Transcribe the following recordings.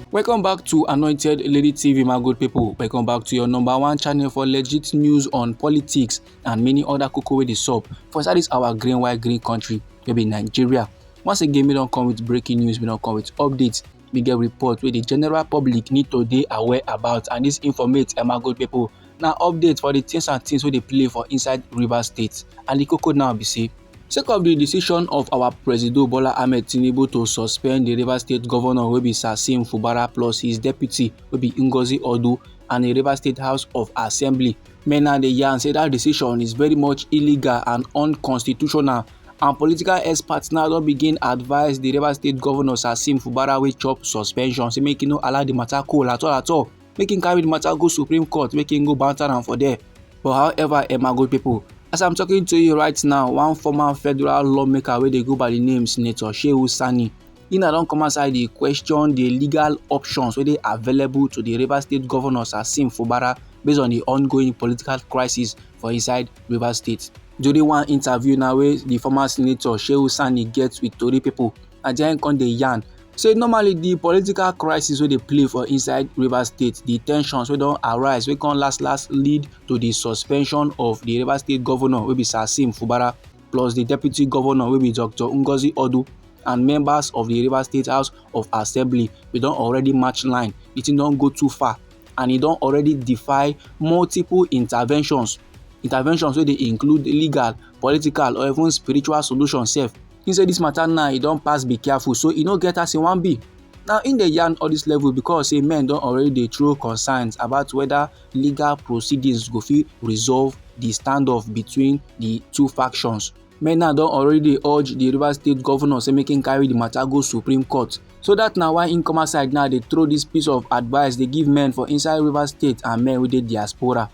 welcome back to anointed lady tv my good people welcome back to your number one channel for legit news on politics and many other koko wey dey sup for inside this our green white green country wey be nigeria once again we don come with breaking news we don come with updates we get report wey the general public need to dey aware about and this informate eh, my good people na update for the things and things wey dey play for inside rivers state and the koko now be say Sake of di decision of our Presido Bola Ahmed Tinubu to suspend di Rivers State Governor wey be Sasim Fubara plus his deputy wey be Ngozi Odu and di Rivers State House of Assembly, many dey yarn say dat decision is very much illegal and unconstitutional and political experts now don begin advise di Rivers State Governor Sasim Fubara wey chop suspension say make e no allow di matter cool at all at all. make im carry the matter go supreme court make im go banter am for there but however emma good people as i'm talking to you right now one former federal lawmaker wey dey go by the name senator shehu sani he na don come outside dey question the legal options wey dey available to the rivers state governor sassim fubara based on the ongoing political crisis for inside rivers state during one interview now wey the former senator shehu sani get with tori people and then come dey yarn say normally the political crisis wey dey play for inside rivers state the tensions wey don arise wey come last last lead to the suspension of the rivers state governor wey be sasim fubara plus the deputy governor wey be dr ngozi odu and members of the rivers state house of assembly we don already match line the thing don go too far and e don already defy multiple interventions interventions wey dey include legal political or even spiritual solution sef he say this matter now e don pass be careful so e no get as e wan be now in dey yarn all this level because say men don already dey throw concerns about whether legal proceedings go fit resolve the standoff between the two factions men now don already dey urge the rivers state governor say make him carry the matter go supreme court so that na why income side now dey throw this piece of advice dey give men for inside rivers state and men wey dey diaspora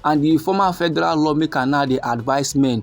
and the former federal lawmaker now dey advise men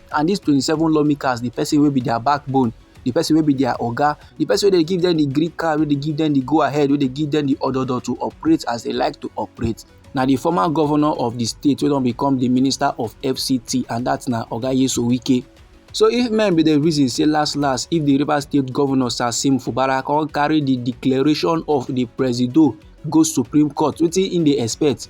and these twenty seven lawmakers the person wey be their backbone the person wey be their oga the person wey dey give them the green card wey dey give them the go ahead wey dey give them the ododo to operate as they like to operate na the former governor of the state wey don become the minister of fct and that na oga yeso wike so if men be the reason say last last if the rivers state governor sasim fubara come carry the declaration of the presido go supreme court wetin im dey expect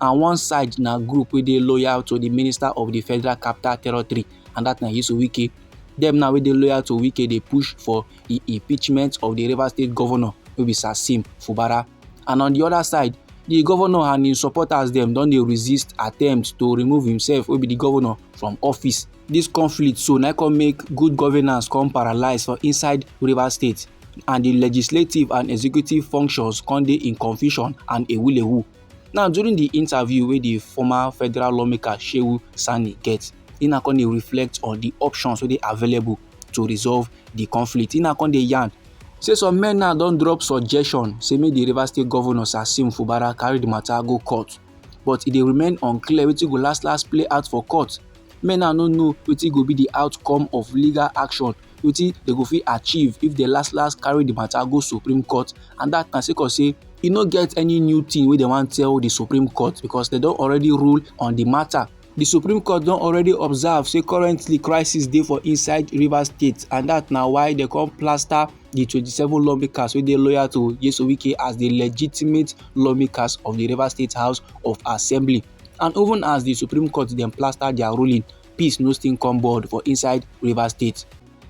and one side na group wey dey loyal to di minister of di federal capital territory and dat na yesu wike dem now wey dey loyal to wike dey push for di impeachment of di rivers state governor wey be sasim fubara and on di oda side di governor and im supporters dem don dey resist attempts to remove himself wey be di governor from office dis conflict so na come make good governance come paralyse for inside rivers state and di legislative and executive functions come dey in confusion and ewulewu Now during the interview with the former federal lawmaker Shehu Sani get, e na come dey reflect on the options wey dey available to resolve the conflict. E na come dey yarn say some men now don drop suggestion say make the Rivers State governor Sasim Fubara carry the matter go court but e dey remain unclear wetin go last last play out for court. Men now no know wetin go be the outcome of legal action wetin dem go fit achieve if dem last last carry the matter go supreme court and that na sake of say e no get any new thing wey dem wan tell the supreme court because dem don already rule on the matter The Supreme Court don already observe say currently crisis dey for inside Rivers State and that na why dem come plaster the 27 lawmakers wey dey loyal to Nyesom Wike as the legitimate lawmakers of the Rivers State House of Assembly. And even as the Supreme Court dem plaster their ruling, peace no still come board for inside Rivers State.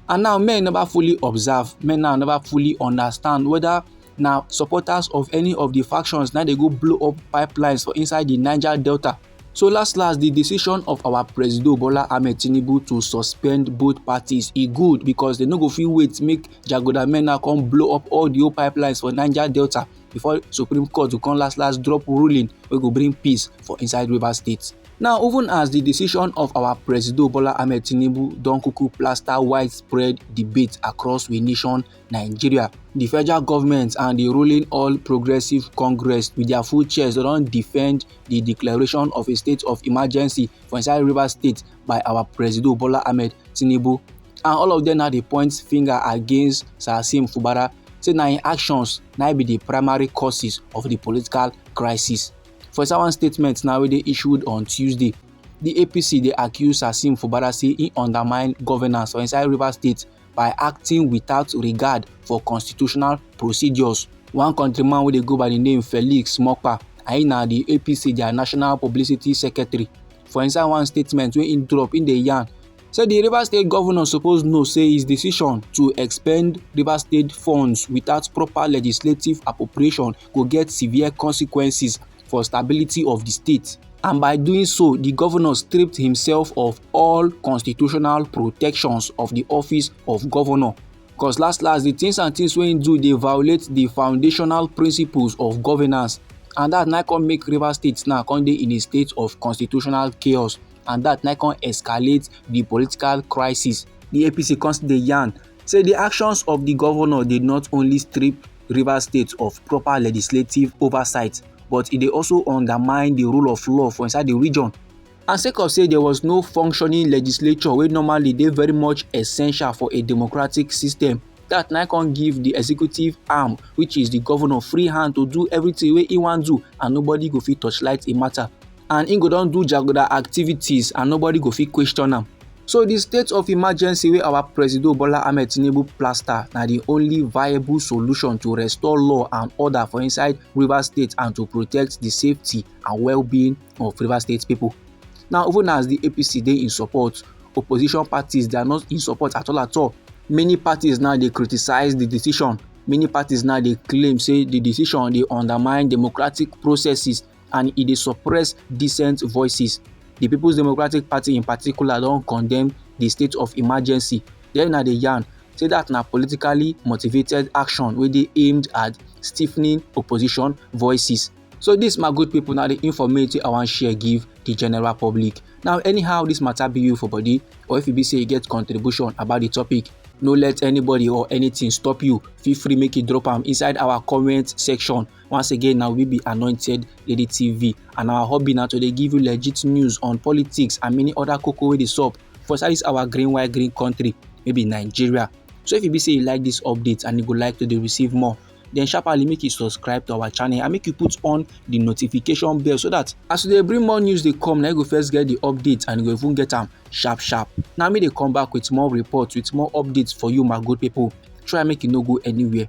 And now men never fully observe, men now never fully understand whether na supporters of any of the factions na dey go blow up pipelines for inside the Niger Delta. So last last, the decision of our President Bola Ahmed Tinubu to suspend both parties e good because they no go fit wait make Jagoda men now come blow up all the old pipelines for Niger Delta before Supreme Court go come last last drop ruling wey go bring peace for inside Rivers State. Now even as di decision of our Presido Bola Ahmed Tinubu don kuku plaster widespread debate across we nation Nigeria, di federal government and di ruling All Progressives Congress with their full chest don defend di declaration of a state of emergency for inside River State by our Presido Bola Ahmed Tinubu and all of them now dey point finger against Sasim Fubara say na im actions na be di primary causes of di political crisis. For inside one statement now wey dey issued on Tuesday, di APC dey accuse Hassim Fubara say e undermine governance for inside Rivers State by acting without regard for constitutional procedures. One countryman wey dey go by di name Felix Mokpa and im na di APC dia national publicity secretary. For inside one statement wey im drop, im dey yarn say di rivers state govnor suppose know say his decision to expend rivers state funds without proper legislative appropriation go get severe consequences for stability of di state and by doing so di govnor stripped himself of all constitutional protections of di office of govnor cos last last di tins and tins wey im do dey violate di foundational principles of governance and dat na come make rivers state now come dey in a state of constitutional chaos. and dat na come escalate di political crisis. Di APC come still dey yarn say di actions of di governor dey not only strip Rivers State of proper legislative oversight but e dey also undermine di rule of law for inside di region. And sake of say there was no functioning legislature wey normally dey very much essential for a democratic system, dat na come give di executive arm which is di governor free hand to do everything wey e wan do and nobody go fit torchlight im matter. and he go don do jaguda activities and nobody go fit question am so the state of emergency wey our president bola ahmed tinubu plaster na the only viable solution to restore law and order for inside rivers state and to protect the safety and well-being of rivers state people now even as the apc dey in support opposition parties they are not in support at all at all many parties now dey criticize the decision many parties now dey claim say the decision dey undermine democratic processes and e dey suppress dissent voices. The People's Democratic Party in particular don condemn the state of emergency. Then na the yarn say that na politically motivated action wey dey aimed at stiffening opposition voices. So this my good people na the informate wey I wan share give the general public. Now anyhow this matter be you for body or if e be say you get contribution about the topic, no let anybody or anything stop you. Feel free make you drop am inside our comment section. Once again, now we be anointed Lady TV, and our hobby now to they give you legit news on politics and many other cocoa with the sup for inside this our green white green country, maybe Nigeria. So if you be say you like this update and you would like to they receive more, then sharply make you subscribe to our channel and make you put on the notification bell so that as they bring more news they come now you go first get the updates and you go even get them sharp sharp Now me they come back with more reports with more updates for you my good people try make you no go anywhere